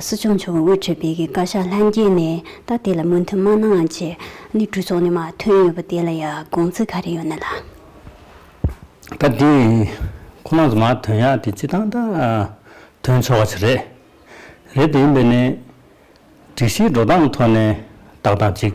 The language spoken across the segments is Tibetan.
སྲིད་སྐྱོང་མཆོག་གིས་འོས་འཕྲོས་སྤེལ་མཁན་བཀའ་ཤག་ལྷན་རྒྱས་ནས་ད་དེ་ལ་མོས་མཐུན་མ་གནང་ཅེས་གནས་གྲོས་ཚོགས་ནས་མ་ཐོན་ཡོད་པ་དེ་ལ་ཡང་དགོངས་ཚུལ་ག་རེ་ཡོད་ན་ལ། ད་དེ་ཁོ་ནགས་མ་ཐོན་ཡག་དེ་སྤྱི་བཏང་དང་ཐོན་ཆོག་ག་ཆ་རེད། རེད་དེ་ཡིན་པས་ནས་སྒྲིག་གཞིའི་འགྲོ་སྟངས་ཐོག་ནས་བདག་དང་གཅིག།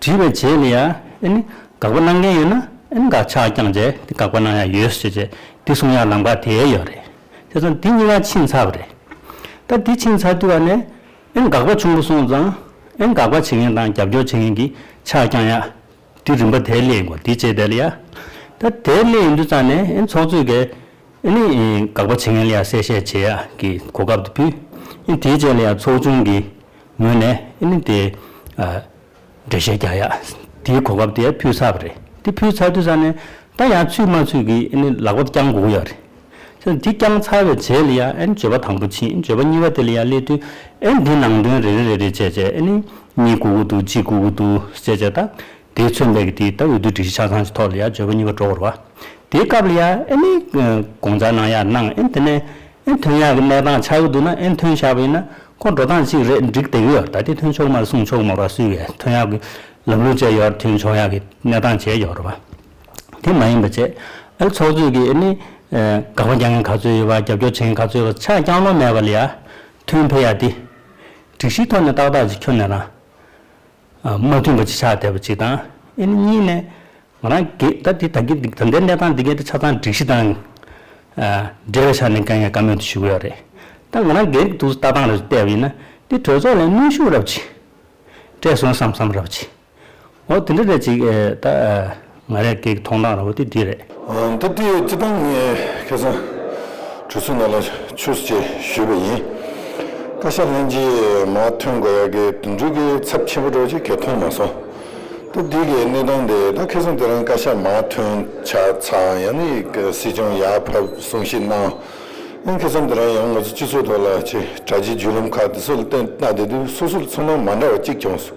དྲིས་པའི་རྗེས་ལ་ཡང། དགག་པ་གནང་མཁན་ཡོད་ན་དགག་བྱ་རྐྱང་རྗེས་དགག་པ་གནང་ཡ་ཡོད་ཟེར་ཞེས་བྱས། འདི་གསུང་ཡ་ལམ་ཁ་དེ་ཡ་ཡོད་རེད། དེ་ཚོ་འདི་གཉིས་ཀ་ཕྱིན་ཚར་བ་རེད། ད་འདི་ཕྱིན་ཚར་དུས་བ་ནས། དགག་པ་ཆུང་པོ་སོང་ཙང། དགག་པ་བྱེད་མཁན་དང་རྒྱབ་སྐྱོར་བྱེད་མཁན་གྱི་ཆ་རྐྱང་ཡ། འདི་རིམ་པ་དེ་སླེ་ཡིན་གོ་འདི་རྗེས་དེ་ལ་ཡ། ད་དེ་སླེ་ཡིན་དུས་ཙང་ནས་ཚོགས་གཙོས་ཀས། དགག་པ་བྱེད་མཁན་ལ་ཡ་གསལ་བཤད་བྱེད་ཡ་གི་གོ་སྐབས་དེ་ཕུལ། དེའི་རྗེས་ལ་ཡ་ཚོགས་ཆུང་གིས་ངོས་ནས་ཨིན་ལིན་དེ། འགྲེལ་བཤད་རྒྱག་ཡག་དེའི་གོ་སྐབས་དེ་ཕུལ་ཚར་བ་རེད། དེ་ཕུལ་ཚར་དུས་ས་ནས་ད་ཡང་ཚུད་མ་ཚུད་ཀྱི་ཨིན་ལིན་ལག་པ་བརྐྱང་དགོས་ཡག་རེད། ཁྱོད་དེ་བརྐྱང་ཚར་བའི་རྗེས་ལ་ཡང་ཨིན་བརྗོད་པ་དང་པོ་ཕྱིན་བརྗོད་པ་གཉིས་པ་དེ་ལ་ཡང་སླེབས་དུས་ཨིན་དེ་ནང་དོན་རེ་རེ་རེ་རེ་བྱས་བྱས་ཨིན་ལིན་གཉིད་འགུག་གི་འདུག་ཅི་འགུག་གི་འདུག་བྱས་བྱས་ད། དེས་མཚོན་ལས་ཀྱི་དེའི་ད་འོས་བསྡུའི་སྒྲིག་གཞི་ཆ་ཚང་གི་ཐོག་ལ་ཡང་བརྗོད་པ་གཉིས་པ་གྲོགས་བོར་བ། དེའི་སྐབས་ལ་ཡང་ཨེ་ནི། དགོངས་ཚར་གནང་ཡག་གནང་ཨེ་དེ་ནས། ཨེ་ཐོན་ཡག་གི་གནས་སྟངས་ཆགས་ཀྱི་འདུག་ན་ཨེ་ཐོན་ཆགས་པ་ཡིན་ན། ཁོང་འགྲོ་སྟངས་གཅིག་རེད་འགྲིག་བསྡད་ཀྱི་ཡོད་ད་ལྟའི་ཐོན་ཆོག་མ་རེད་གསུངས་ཆོག་མ་རེད་སུས་བས་ཐོན་ཡག་གི་ལམ་ལུགས་བཅས་ཡོད་རེད་ཐོན་ཆོག་ཡག་གི་གནས་སྟངས་བཅས་ཡོད་རེད་བ། དེ་མ་ཡིན་པ་བཅས་ཨེ་ཚོགས་གཙོས་ཀྱི་ཨེ་ནི། དགག་པ་རྒྱག་མཁན་ག་ཚོད་ཡོད་བ་རྒྱབ་སྐྱོར་བྱེད་མཁན་ག་ཚོད་ཡོད་བ་ཆ་རྐྱང་ལོ་མེད་པ་ལ་ཡང་ཐོན་ཕེབས་ཡག་དེ། སྒྲིག་གཞིའི་ཐོག་ནས་ཏག་ཏག་ཅིག་འཁྱོལ་ནས་རང། མ་མཐུན་པ་ཅིག་ཆགས་བསྡད་པ་ཅིག་དང། ཨེ་ནི་གཉིས་ནས། ང་རང་གིས་ད་ལྟའི་གནས་སྟངས་འདི་གའི་ཆ་ཚང་སྒྲིག་གཞི་དང། འབྲེལ་བའི་ཆ་ནས་འགན་ངས་བཀའ་མོལ་དུ་ཞུ་གི་ཡོད་རེད། ད་ང་རང་འགན་དུ་ལྟ་སྟངས་ལ་བལྟས་པ་ཡིན་ན། འདི་གྲོས་ཚོགས་ལ་གནོན་ཤུགས་རབ་ཆེ། བཀྲས་སོན་བསམ་བསམ་རབ་ཆེ། འོ་དེ་འདྲ་རེད་ཅིག་ད། ང་རེ་འགས་མཐོང་སྟངས་ར་བ་དེ་འདི་རེད། འདི་དུས་ཀྱི་སྤྱི་བཏང་ངས་ཁེ་སང་གྲོས་ཚོགས་ནང་ལ་ཆུས་ཅེས་ཞུས་པ་ཡིན། བཀའ་ཤག་ལྷན་རྒྱས་མ་ཐོན་དགོས་ཡག་གི་དུད་འགྲོའི་སྐེ་ཚབ་ཆེན་པོ་འགྲོ་ཅིག་གས་མཐོང་མ་སོང། ད་དུས་ཀྱི་གནས་སྟངས་དེ་ད་ཁེ་སང་དེ་རང་བཀའ་ཤག་མ་ཐོན་ཆ་ཚང་ཡང་ནི་སྲིད་སྐྱོང་ཡག་ཕབ་གསུང་བཤད་གནང། ཡང་ཁེ་སང་དེ་རང་ཡང་ང་ཚོ་སྤྱི་ཚོགས་ཐོག་ལ་ཆེ་གྲ་ཆེ་བརྒྱུད་ལམ་ཁག་དེ་སོ་ལ་བཏོན་གནང་དེ་དུས་སོ་སོ་ཚང་མ་མ་འདྲ་བ་གཅིག་བྱུང་སོང།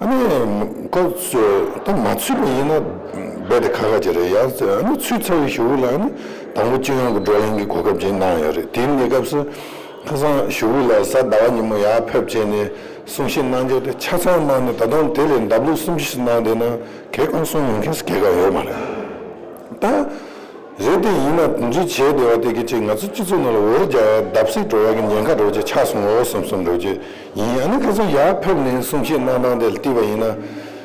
ཨ་ནི། ཁོ་ཚོས་ད་མ་ཚུད་པ་ཡིན་ན་རྦད་དེ་ཁ་ཁ་ཅིག་རེད་ཡ་ཟེར། ཨ་ནི་ཚུད་ཚར་བའི་ཞུ་བོ་ལགས་ནི་དང་པོ་སྤྱི་ཡོངས་ཀྱི་བགྲོ་གླེང་གི་གོ་སྐབས་ཅིག་གནང་ཡོད་རེད་དེ་ནས་སྐབས་སུ། ཁ་སང་ཞུ་བོ་ལགས་གཟའ་ཟླ་བ་ཉིན་མོ་ཡར་ཕེབས་བྱས་ནས་གསུང་བཤད་གནང་རྒྱུ་དེ་ཆ་ཚང་གནང་ནས་ད་དུང་དེ་ལས་འདབ་ལུག་སུམ་ཅུ་ཞིག་གནང་བསྡད་ན་གལ་གང་གསུང་མི་མཁན་སུ་གལ་གང་ཡོད་མ་རེད། ད། རེད་དེ་ཡིན་ན་དོན་ཅི་བྱེད་བདེ་བ་དེ་གི་ཅིག་ང་ཚོ་སྤྱི་ཚོགས་ནང་ལ་འོར་རྒྱ་བརྡབ་བསིག་འགྲོ་བ་གི་ཉེན་ཁ་རོ་གཅིག་ཆགས་སོང་ངོ་གསུམ་གསུམ་རོ་གཅིག་ཡིན་ཨ་ནི་ཁ་སང་ཡར་ཕེབས་ནས་གསུང་བཤད་གནང་སྟངས་དེ་ལ་བལྟས་པ་ཡིན་ན།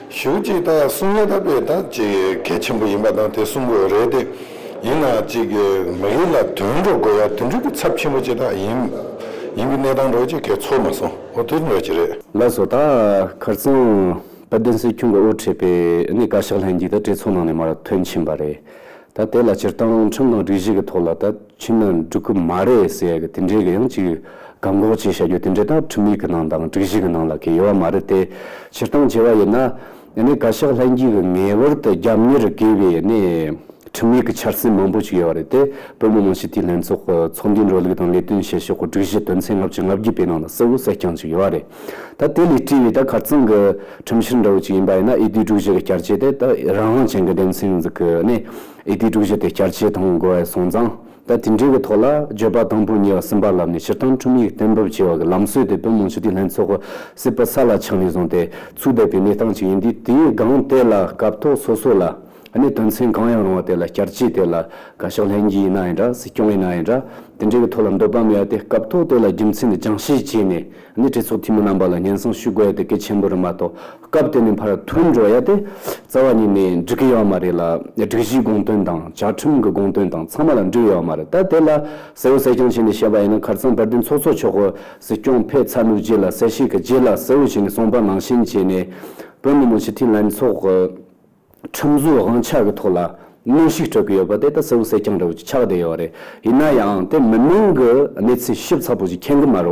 ཞུ་གཅིག་ད་གསུང་ཡ་ད་པའི་ད་ཅིག་གལ་ཆེན་པོ་ཡིན་པ་དང་དེ་གསུམ་པོ་རེད་དེ། ཡིན་ན་ཅིག་མི་རིགས་ལ་དོན་འགྲོ་དགོས་ཡ་དོན་འགྲུས་གི་ཚབ་ཆེན་པོ་ཅིག་ད་ཡིན། ཡིན་གི་གནས་སྟངས་རོ་གཅིག་གལ་ཚོར་མ་སོང་ཨོ་དོན་འགྲོ་ཅིག་རེད། ལགས་སོ་ད་ཁར་སང་དཔལ་ལྡན་སྲིད་སྐྱོང་གི་དབུ་ཁྲིད་པས་ཨ་ནི་བཀའ་ཤག་ལྷན་རྒྱས་ད་གྲོས་ཚོགས་ནང་ནས་མར་དོན་ཆེན་པ་རེད། ད་དེ་ལ་སྤྱིར་བཏང་ཁྲིམས་དང་སྒྲིག་གཞི་གི་ཐོག་ལ་ད་ཕྱིན་ན་འགྲིག་གི་མ་རེད་ཟེར་གི་དེ་འདྲའི་གི་ཡང་ཅིག་བཀག་འགོག་བྱེད་བྱ་རྒྱུ་དེ་འདྲའི་ད་ཁྲིམས་ཡིག་གི་ནང་དང་སྒྲིག་གཞི་གི་ནང་ལ་གི་ཡོད་བ་མ་རེད་དེ། སྤྱིར་བཏང་བྱེད་བ་ཡིན་ན། ཡེ་ནས་བཀའ་ཤག་ལྷན་རྒྱས་གི་ངེས་བར་དུ་རྒྱབ་གཉེར་དགོས་པའི་ཡེ་ནས་ཁྲིམས་ཡིག་གི་འཆར་ཟིན་མང་པོ་ཅིག་ཡོད་བ་རེད་དེ། བོད་མི་མང་སྤྱི་འཐུས་ལྷན་ཚོགས་ཀི་ཚོགས་འདུའི་འགྲོ་ལུགས་དང་ལས་དོན་བྱེད་ཕྱོགས་གི་སྒྲིག་གཞི་དོན་ཚན་ལྔ་བཅུ་ང་བརྒྱུད་པའི་ནང་ལ་གསལ་བོ་གསལ་རྐྱང་ཅིག་ཡོད་བ་རེད། ད་དེ་ལས་བཀྲིས་བའི་ད་གར་གཙང་གི་ཁྲིམས་བཤེར་འདྲ་བོ་ཅིག་ཡིན་པ་ཡིན་ན་ཨེ་ཏིའི་དྲུག་བཞི་གི་བསྐྱར་ཆས་དེ་ད་རང་དབང་ཅན་གྱི་སྡེ་ཚན་ཟིག་གི་ནས་ཨེ་ཏིའི་དྲུག་བཞི་དེ་བསྐྱར་ཆས་དང་དགོས་བའི་སོང་ཙང་ད་དེ་འདྲའི་གི་ཐོག་ལ་བརྗོད་པ་དང་པོ་གཉིས་ལ་སེམས་པ་ལབ་ནས་སྤྱིར་བཏང་ཁྲིམས་ཡིག་གཏན་འབེབས་བྱེད་བ་གི་ལམ་སྲོལ་དེ་བོད་མང་སྤྱི་འཐུས་ལྷན་ཚོགས་གི་སྲིད་པ་ས་ལ་འཆང་ནས་བཟུང་སྟེ་ཚུགས་བསྡད་པའི་གནས་སྟངས་ཅིག་ཡིན་དུས་དེའི་སྒང་དེ་ལ་སྐབས་ཐོག་སོ་སོ་ལ། གནད་དོན་ཚན་གང་ཡང་རུང་བ་དེ་ལ་བསྐྱར་བཅོས་དེ་ལ་དགའ་ཕྱོགས་ལྷན་རྒྱས་ཡིན་ན་ཡིན་འདྲ་སྲིད་སྐྱོང་ཡིན་ན་ཡིན་འདྲ་དེ་འདྲའི་གི་ཐོག་ལ་འདོད་པ་མེད་དེ་སྐབས་ཐོག་དེ་ལ་རྒྱུ་མཚན་དེ་སྦྱང་བཤད་བྱས་ནས་ནི་གྲོས་ཚོགས་འཐུས་མི་རྣམ་པ་ལ་སྙན་སེང་ཞུ་དགོས་དེ་གལ་ཆེན་པོ་རེད་མ་གཏོགས་སྐབས་དེ་ནས་ཕར་ཐོན་འགྲོ་ཡ་དེ་རྩ་བ་ཉིད་ནས་འགྲིག་གི་ཡོད་མ་རེད་ལ་སྒྲིག་གཞིའི་དགོངས་དོན་དང་བཅའ་ཁྲིམས་གི་དགོངས་དོན་དང་ཚང་མ་ལ་འགྲིག་ཡོད་མ་རེད་ད་དེ་ལ་གསལ་བོ་གསལ་རྐྱང་བྱས་ནས་བཤད་པ་ཡིན་ན་ཁར་ཚང་བར་དུས་ཚོགས་ཚོགས་ཆོག་གོ་སྲིད་སྐྱོང་ཕེབས་ཚར་ནུབ་རྗེས་ལ་གསལ་བཤད་གི་རྗེས་ལ་གསལ་བོ་བྱས་ནས་གསུངས་པ་ནང་བཞིན་བྱས་ནས་བོད་མི་མང་སྤྱི་འཐུས་ལྷན་ཚོགས་གི། ཁྲིམས་བཟོའི་དབང་ཆ་གི་ཐོག་ལ་གནོན་ཤུགས་སྤྲོད་ཀྱི་ཡོད་པ་དེ་ད་གསལ་བོ་གསལ་རྐྱང་རེད་བོ་ཆགས་བསྡད་ཡོད་རེད། ཡིན་ན་ཡང་དེ་མི་མང་གི་གནས་ཚུལ་ཞིབ་ཚགས་པོ་ཞིག་མཁྱེན་གི་མ་རེད་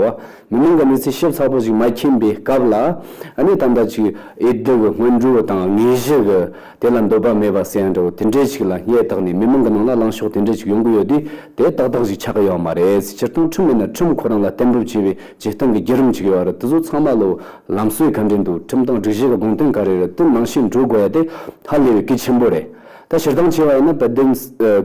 བ། མི་མང་གི་གནས་ཚུལ་ཞིབ་ཚགས་པོ་ཞིག་མ་མཁྱེན་པའི་སྐབས་ལ་ནི་ད་ལྟ་ཅིག་ཨེ་བདེ་གི་སྔོན་འགྲོའི་དང་དངོས་གཞི་གི་དེ་ལ་འདོད་པ་མེད་པ་གསལ་རེད་བོ་དེ་འདྲས་ཞིག་ལ་སྙད་ཐག་ནས་མི་མང་གི་ནང་ལ་ལངས་ཕྱོགས་དེ་འདྲས་ཞིག་ཡོང་གི་ཡོད་དུས་དེ་ཏག་ཏག་ཞིག་ཆགས་གི་ཡོད་མ་རེད་སྤྱིར་བཏང་ཁྲིམས་མེད་ན་ཁྲིམས་ཁོ་རང་ལ་གཏན་འབེབས་བྱས་པའི་བྱེད་སྟངས་ཀྱི་བརྒྱུད་རིམ་ཞིག་ཡོད་པ་རེད་དེ་ཚོ་ཚང་མ་ལོ་ལམ་སྲོལ་ག་འདྲས་འདུག་ཁྲིམས་དང་སྒྲིག་གཞི་གི་དགོངས་དོན་ག་རེ་རེད་དེ་ནང་བཞིན་འགྲོ་དགོས་ཡ་དེ་ཧ་ལས་པའི་གལ་ཆེན་པོ་རེད། ད་ཕྱིར་འདང་ཆེ་བ་ཡིན་ན་དཔལ་ལྡན་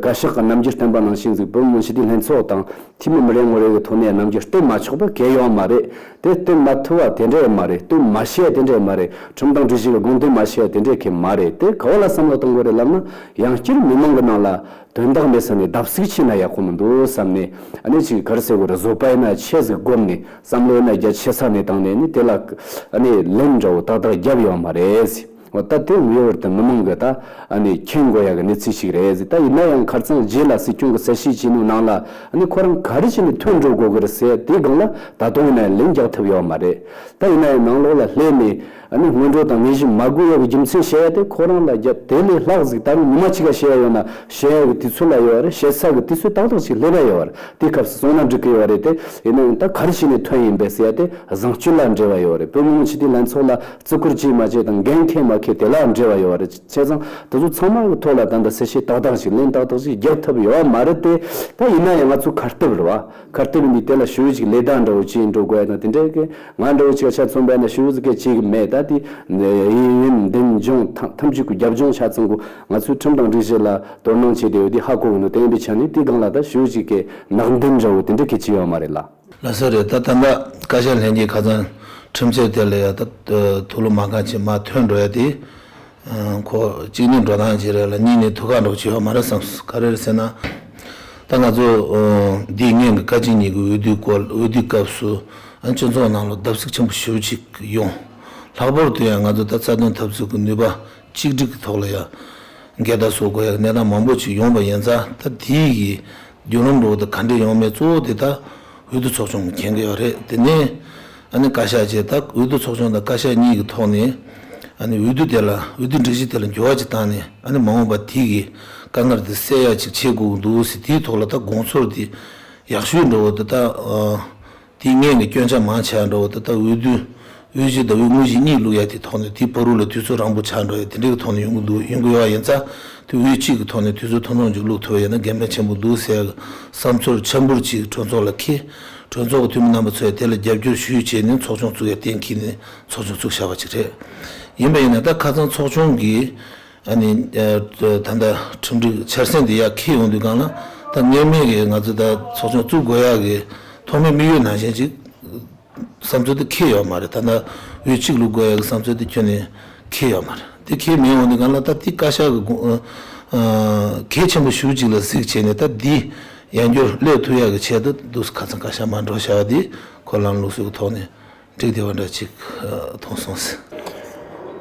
བཀའ་ཤག་གི་རྣམ་འགྱུར་བསྟན་པ་ནང་བཞིན་གཟིགས་བོད་མི་སྤྱི་འཐུས་ལྷན་ཚོགས་དང་འཐུས་མི་མི་རེ་ངོ་རེ་གི་ཐོག་ནས་རྣམ་འགྱུར་བསྟན་མ་ཆོག་པ་གལ་ཡོད་མ་རེད་དེ་བསྟན་མ་ཐུབ་བ་དེ་འདྲས་མ་རེད་བསྟན་མ་ཤེས་དེ་འདྲས་མ་རེད་ཁྲིམས་དང་སྒྲིག་གཞི་གི་དགོངས་དོན་མ་ཤེས་དེ་འདྲས་གལ་མ་རེད་དེ་ག་བ་ལ་བསམ་བློ་གཏོང་དགོས་རེད་ལབ་ན་ཡང་བསྐྱར་མི་མང་གི་ནང་ལ་དོན་དག་མེད་བསམ་ནས་བརྡབ་གསིག་བྱས་ན་ཡག་པོ་མི་འདུག་བསམ་ནས་ཨ་ནེ་ཅིག་གར་སེ་བོར་བཟོ་པའི་ན་ཆས་ཟིག་བསྒོམས་ནས་བསམ་བློའི་ན་རྒྱ་ཆེ་ས་ནས་བཏང་ནས་ནི་དེ་ལ་ཨ་ནེ་ལན་འདྲ་བོ་ཏག་ཏག་རྒྱབ་ཡོང་མ་རེད། འོ་ད་དེ་ངེས་བར་དུ་མི་མང་གི་ད་ཨ་ནེ་མཁྱེན་དགོས་ཡག་གི་གནས་ཚུལ་ཞིག་རེད་ད་ཡིན་ན་ཡང་གར་ཚང་རྗེས་ལ་སྲིད་སྐྱོང་གི་གསལ་བཤད་བྱས་ནུས་ནང་ལ་ཨ་ནེ་ཁོ་རང་ག་རེ་བྱས་ནས་ཐོན་འགྲོ་དགོས་ཀི་རེད་ཟེར་དེའི་སྒང་ལ་ད་དུང་ཡིན་ན་ཡང་ལན་རྒྱག་ཐུབ་ཡོད་མ་རེད་ད་ཡིན་ན་ཡང་ནང་ལོགས་ལ་སླེབས་ནས་ཨ་ནི་སྔོན་འགྲོ་དང་ལས་གཞི་མ་དགུ་ཡོད་པའི་རྒྱུ་མཚན་བཤད་ཡ་དེ་ཁོ་རང་ལ་རྒྱ་དེ་ལས་ལྷག་གཟིགས་ད་རུང་ཉི་མ་ཕྱི་ག་བཤད་ཡ་ཡོད་ན་བཤད་ཡ་གི་དུས་ཚོད་ལ་ཡོད་བ་རེད་བཤད་ཚར་གི་དུས་ཚོད་ཏག་ཏག་ཅིག་སླེབ་ཡ་ཡོད་བ་རེད་དེའི་སྐབས་སུ་སོང་ན་འགྲིག་གི་ཡོད་རེད་དེ་ཡིན་ན་ཡང་ད་གར་ཞིག་ནས་ཐོན་ཡིན་པས་ཟེར་ཡ་དེ་བཟང་སྤྱོད་ལ་འབྲེལ་བ་ཡོད་རེད་བོད་མི་མང་སྤྱི་འཐུས་ལྷན་ཚོགས་ལ་བརྩི་བཀུར་བྱས་མ་བྱས་དང་འགན་ཁེ་མ་ཁེ་དེ་ལའང་འབྲེལ་བ་ཡོད་བ་རེད་བྱས་ཙང་དེ་ཚོ་ཚང་མ་གི་ཐོག་ལ་ད་ལྟ་གསལ་བཤད་ཏག་ཏག་ཅིག་གླེང་ཏག་ཏག་ཅིག་རྒྱག་ཐབས་ཡོད་བ་མ་རེད་དེ་ད་ཡིན་ན་ཡང་ང་ཚོ་གར་སྟེབས་རེད་བ་གར་སྟེབས་ཡིན་དུས་དེ་ལ་ཞུ་ཡིག་ཅིག་ལས་དག་འདྲ་བོ་བྱས་འགྲོ་དགོས་ཡ་ན་དེ་འདྲའི་གི། ང་འདྲ་བོ་ཆིག་ཁ་ཆ་ཚུན་པས་ན་ཤི་བོ་ཟི་ཁས་ཅིག་མེད་ད་དེ། ཡིན་ཡིན་འདེམས་སྦྱོང་ཐམས་ཅད་ཀུ་རྒྱབ་ལྗོངས་ཆ་ཚང་གུ་ང་ཚོའི་ཁྲིམས་དང་སྒྲིག་གཞི་ལ་དོ་སྣང་བྱེད་དེ་ཡོད་དེ་ཧ་གོ་གི་འདུག་དེ་ཡིན་པའི་ཆ་ནས་དེའི་སྒང་ལ་ད་ཤི་བོ་ཅིག་གས་ནག་འདེམས་འདྲ་བོ་དེ་འདྲ་ཁས་ཅི་ཡོད་མ་རེད་ལ། ལ་སོ་རེད་ད་དམ་པ་བཀའ་ཤག་ལྷན་རྒྱས་ཁ་ཚང་ཁྲིམས་ཚད་དེ་ལ་ཡང་ད་ཐུགས་ལོ་མ་གང་ཆེ་མ་ཐོན་འགྲོ་ཡ་དེ། ཁོ་གཅིག་ནི་འགྲོ་སྟངས་ཅི་རེད་ལ་གཉིས་ནི་ཐུགས་ཁག་འགྲོ་བྱེད་ཡོད་མ་རེད་བསམས་སོ་ག་རེད་ཟེར་ན། ད་ང་ཚོ་འདིས་ངན་གྱི་བཀའ་སྤྱི་གཉིས་ཀྱི་འོས་བསྡུའི་སྐོར་འོས་བསྡུའི་སྐབས་སུ་ཨ་སྤྱི་ཚོགས་ནང་ལོ་བརྡབ་གསིག་ཆེན་པོ་ཞུ་ཅིག་ཡོང། ལྷག་པོར་དུ་ཡང་ང་ཚོ་ད་རྩ་དོན་འཐབ་རྩོད་ཀྱི་ནུས་པ་གཅིག་སྒྲིག་གི་ཐོག་ལ་ཡང་འགལ་ཟླ་བཟོ་དགོས་ཡག་གནས་སྟངས་མང་པོ་ཅིག་ཡོང་བ་ཡིན་ཙང་ད་དེ་ཡི་རྒྱུན་རིང་འགྲོ་བ་དང་ག་འདྲེ་ཡོང་མེད་གཙོ་བོ་དེ་ད་འོས་བསྡུ་ཚོགས་ཆུང་གི་གན་གི་ཡོག་རེད་དེ་ནས་བཀའ་ཤག་བཅས་དང་འོས་བསྡུ་ཚོགས་ཆུང་དང་བཀའ་ཤག་གཉིས་ཀྱི་ཐོག་ནས་འོས་བསྡུ་དེ་ལ་འོས་བསྡུ་སྒྲིག་གཞི་དེ་ལ་འགྱུར་བ་ཅིག་བཏང་ནས་མ་འོངས་པར་དེ་གའི་དཀའ་ངལ་དེ་སེལ་ཡག་ཅིག་བྱེད་དགོས་འདུག་ཟེར་དེའི་ཐོག་ལ་ད་དགོངས་ཚོར་དེ་ཡག་ཤོས་འགྲོ་འོ་དེ་ད་དེ་སྔས་ནས་སྐྱོན་ཆ་མང་ཆགས་འགྲོ་འོ་དེ་ད་འོས་བསྡུ་འོས་གཞི་དང་འོས་དངོས་གཞི་གཉིས་བླུག་ཡག་དེའི་ཐོག་ནས་དེ་ཕ་རུ་ལ་དུས་ཚོད་རང་པོ་ཆགས་འགྲོ་ཡ་དེ་འདྲའི་གི་ཐོག་ནས་ཡོང་གི་འདུག་ཡོང་གི་ཡོད་ཡིན་ཙང་དེ་འོས་གཅིག་གི་ཐོག་ནས་དུས་ཚོད་ཐུང་ཐུང་ཅིག་བླུག་ཐུབ་ཡ་ན་འགན་ཕན་ཆེན་པོ་འདུག་ཟེར་ཡག་གི་བསམ་ཚོར་འཆར་འབུར་ཅིག་གྲོས་ཚོགས་ལ་ཁེལ། གྲོས་ཚོགས་ཀྱི་འཐུས་མི་རྣམ་པ་ཚོས་དེ་ལ་རྒྱབ་སྐྱོར་ཞུ་ཡིག་བྱས་ནས་ཚོགས་ཆུང་བཙུགས་ཡ་གཏན་འཁེལ་ནས་ཚོགས་ཆུང་བཙུགས་བཞག་པ་ཅིག་རེད། ཡིན་པ་ཡིན་ན་ད་ཁ་ཚང་ཚོགས་ཆུང་གི་ད་ལྟ་ཁྲིམས་སྒྲིག་འཆར་ཟིན་དེ་ཡ་འཁེལ་ཡོང་དུས་སྒང་ལ་ད་སྔར་མེད་ཀྱི་ང་ཚོ་ད་ཚོགས་ཆུང་བཙུགས་དགོས་ཡ་གི་ཐོག་མའི་དམིགས་ཡུལ་ནང་བཞིན་ཅིག་བསམ་ཚུལ་དེ་འཁེལ་ཡོང་མ་རེད་ད་ད་འོས་གཅིག་ལུགས་དགོས་ཡ་གི་བསམ་ཚུལ་དེ་ཁྱོན་ནས་འཁེལ་ཡོང་མ་རེད་དེ་འཁེལ་མེད་འོང་དུས་སྒང་ལ་ད་དེ་བཀའ་ཤག་གི་དགོངས་གལ་ཆེན་པོ་ཞུ་ཅིག་ལ་གཟིགས་བྱས་ནས་ད་འདི་ཡན་འགྱུར་བློས་ཐུབ་ཡག་གི་ཆེད་དུ་འདུག་ས་ཁ་ཚང་ཁ་ཤ་མ་འགྲོ་བྱ་བ་འདི་ཁོ་ལམ་ལུགས་སུ་ཐོག་ནས་འགྲིག་བདེ་བ་འདྲ་གཅིག་མཐོང་སོང་ཟེར།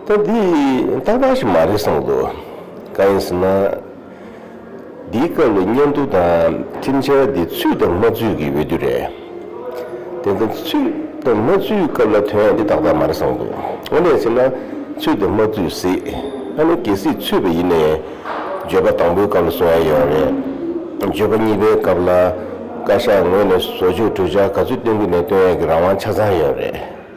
ད་འདི་རྟག་པར་ཞིག་མ་རེད་བསམ་འདུག་གང་ཡིན་ཟེར་ན། འདིའི་སྐབས་ལ་སྙན་ཐོ་དང་ཁྲིམས་འཆར་འདི་ཚུད་དང་མ་ཚུད་ཀྱི་འོས་བསྡུ་རེད། དེ་ནི་ཚུལ་དུ་མ་བཙུད་སྐབས་ལ་དོན་ཡང་འདི་དག་དག་མ་རེད་བསམ་དགོས། དངོས་གནས་བྱས་ན་ཚུལ་དུ་མ་བཙུད་གཟིགས་ཨ་ནི་གལ་སྲིད་ཚུད་པ་ཡིན་ན་ཡང་བརྗོད་པ་དང་པོའི་སྐབས་ལ་བཟོ་ཡ་ཡོད་རེད། བརྗོད་པ་གཉིས་པའི་སྐབས་ལ་བཀའ་ཤག་ངོས་ནས་བཟོ་བཅོས་གྲོས་འཆར་ག་ཚོད་བཏོན་གི་ནས་བཏོན་ཡ་གི་རང་དབང་ཆ་ཚང་ཡོད་རེད།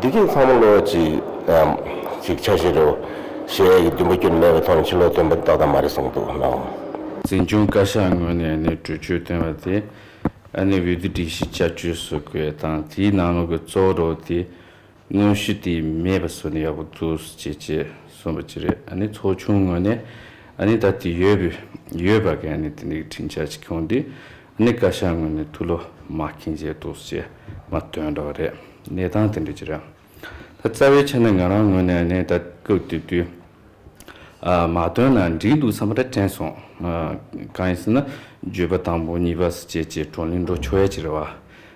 འདི་སྐད་ཚང་མ་བློ་གཅིག་ཆ་བཞིན་རོ། ཞེས་ཡས་ཀྱི་བདུན་པ་སྐྱོན་མེད་པའི་ཐོག་ནས་ཕྱི་ལོག་སྟོན་པ་རྟགས་དང་མ་རེད་གསུངས་འདུག་ནའོ། འཛིན་སྐྱོང་བཀའ་ཤག་ངོས་ནས་ནི་གྲོས་ཆོད་བཏོན་བ་དེ་འོས་བསྡུ་སྒྲིག་གཞི་བསྐྱར་བཅོས་བཟོ་དགོས་དང་དེའི་ནང་ལོག་གི་གཙོ་བོ་རོགས་པ་དེ་དངོས་གཞི་དེ་མེད་པ་བཟོས་ན་ཡག་པོ་འདུག་ཅེས་ཅེས་གསུངས་པ་ཅི་རེད་ཚོགས་ཆུང་ངོས་ནས་ད་དེ་ཡོད་པ་ག་དེ་འདི་གི་དྲིན་ཆ་ཅིག་ཁྱོང་དེ་གནས་བཀའ་ཤག་ངོས་ནས་ཐུགས་བློ་མ་ཁེངས་བྱས་འདུག་ཅེས་མ་བཏོན་འདྲ་བ་རེད། གནས་སྟངས་དེ་འདྲ་ཅི་རེད། ད་རྩ་བའི་ཆ་ནས་ང་རང་ངོས་ནས་གནས་བརྟག་སྐབས་དེ་དུས་མ་བཏོན་ན་འགྲིག་འདུག་བསམ་པ་འདྲ་དྲན་སོང། གང་ཡིན་ཟེར་ན་བརྗོད་པ་དང་པོ་གཉིས་པ་བརྗེད་བྱས་བགྲོ་གླེང་འགྲོ་ཆོག་ཡ་ཅི་རེད་བ།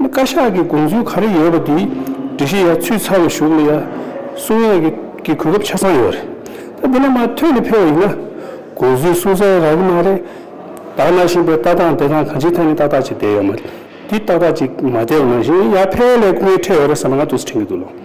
བཀའ་ཤག་གི་དགོངས་ཚུལ་ག་རེ་ཡོད་པ་དེ་འབྲི་གཞི་ཡ་ཚུད་ཚར་བའི་གཞུག་ལ་ཡ་གསུང་ཡས་ཀྱི་གི་གོ་སྐབས་ཆ་ཚང་ཡོད་རེད་དེ་ལ་མ་ཐོས་ནས་ཕེབས་པ་ཡིན་ན་དགོངས་ཚུལ་གསུང་ས་ཡ་རག་གི་མ་རེད། བདག་གནང་བཞིན་པའི་ལྟ་སྟངས་དེ་དང་གང་ཅིའི་ཐད་ནས་ཏག་ཏག་ཅིག་བསྡད་ཡོད་མ་རེད་དེ་ཏག་ཏག་ཅིག་མ་བསྡད་པ་ནང་བཞིན་ཡ་ཕལ་བའི་ལས་སྐུ་ངལ་འཕྲད་ཡོད་རེད་ཟེར་ན་ང་དུས་སུ་དྲན་གྱི་འདུག་ལོ།